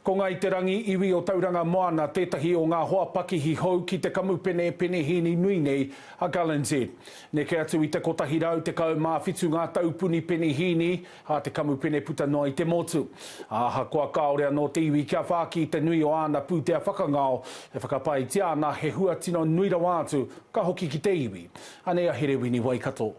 Ko Ngāi Te Rangi, iwi o Tauranga Moana, tētahi o ngā hoa pakihi hou ki te kamupene penehīni nui nei a Gallanzette. Neke atu i te 117 ngā taupuni penehīni a te kamupene puta noa i te motu. Ahakoa kāore anō te iwi kia whāki i te nui o āna pūtea whakangao, e whakapaetia ana he hua tino nui rawa atu, ka hoki ki te iwi. Anei a Herewini Waikato.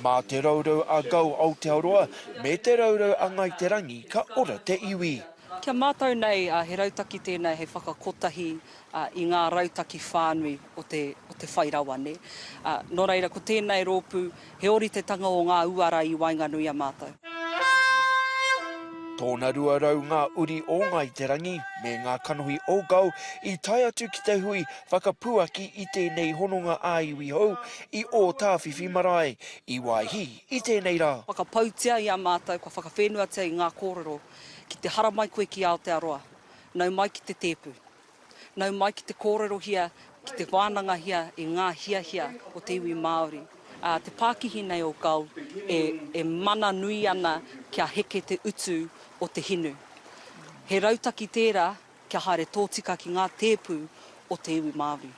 Mā te raurau a Go Aotearoa me te raurau a Ngāi Te Rangi ka ora te iwi. Ki a mātou nei, he rautaki tēnei hei whakakotahi i ngā rautaki whānui o te whai rawa. Nō reira, ko tēnei rōpū He oritetanga o ngā uara i waenganui a mātou. Tōna rua rau ngā uri o Ngāi Te Rangi me ngā kanohi o Gau i tae atu ki te hui whakapuaki i tēnei hononga ā-iwi hou i Ōtāwhiwhi marae, i Waihī, i tēnei rā. Whakapautia i a mātou, kua whakawhēnuatia i ngā kōrero ki te haramai koe ki Aotearoa, nau mai ki te tēpu. Nau mai ki te kōrerohia, ki te wānangahia i ngā hiahia o te iwi Māori. Ā, te pākihi nei o Gull e, e mana nui ana kia heke te utu o te hinu. He rautaki tērā kia haere tōtika ki ngā tēpu o te iwi Māori.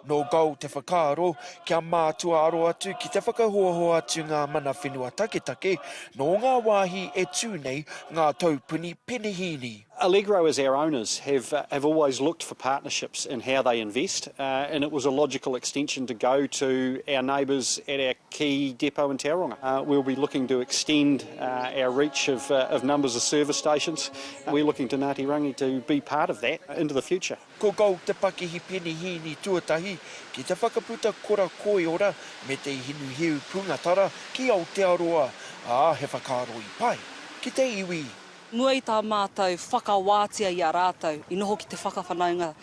Nō Gold te whakaaro, kia mātua aro atu ki te whakahoahoa atu ngā mana whenua taketake nō ngā wāhi e tū nei ngā taupuni penehīni. Allegro as our owners have have always looked for partnerships in how they invest and it was a logical extension to go to our neighbours at our key depot in Tauranga. We'll be looking to extend our reach of of numbers of service stations We're looking to Ngāti Rangi to be part of that into the future. Ko Gold te pakihi penihīni tuatahi ki te whakaputa kora koiora me te hinu hiu pūngatara ki Aotearoa, ā, he whakaaro i pai ki te iwi. Mua i tā mātou whakawātia i a rātou i noho ki te whakawhanaunga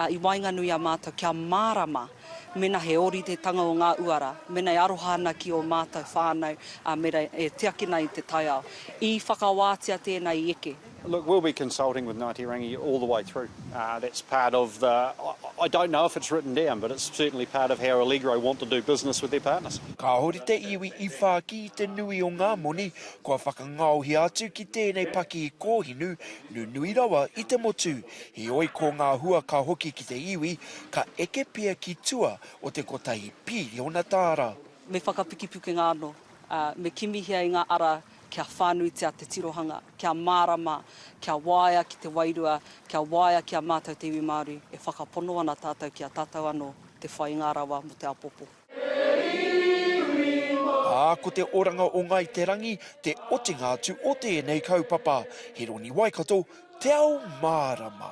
i waenganui i a mātou kia mārama. Mena he ori te tanga o nga uara, mena e aroha ana ki o matou whanau, a mera e tiakina i te taiao. I whakawatia tena i eke. Look we'll be consulting with Ngati Rangi all the way through that's part of the I don't know if it's written down but it's certainly part of how Allegro want to do business with their partners. Kāore te iwi i whāki i te nui o ngā moni kua whakangaohia atu ki tēnei pakī kōhinu nunui rawa i te motu. Heoi ko ngā hua ka hoki ki te iwi, ka eke pea ki tua o te kotahi pīriona tāra. Me whakapukipukenga anō, ā, me kimihia i ngā ara kia whānuitia te tirohanga, kia mārama, kia waea ki te wairua, kia waea ki a mātou te iwi Māori, e whakapono ana tātou ki a tātou anō te whai ngā rawa mō te apopo. Ā, ko te oranga o Ngāi Te Rangi te otinga atu o tēnei kaupapa. Hironi Waikato, Te Ao Mārama.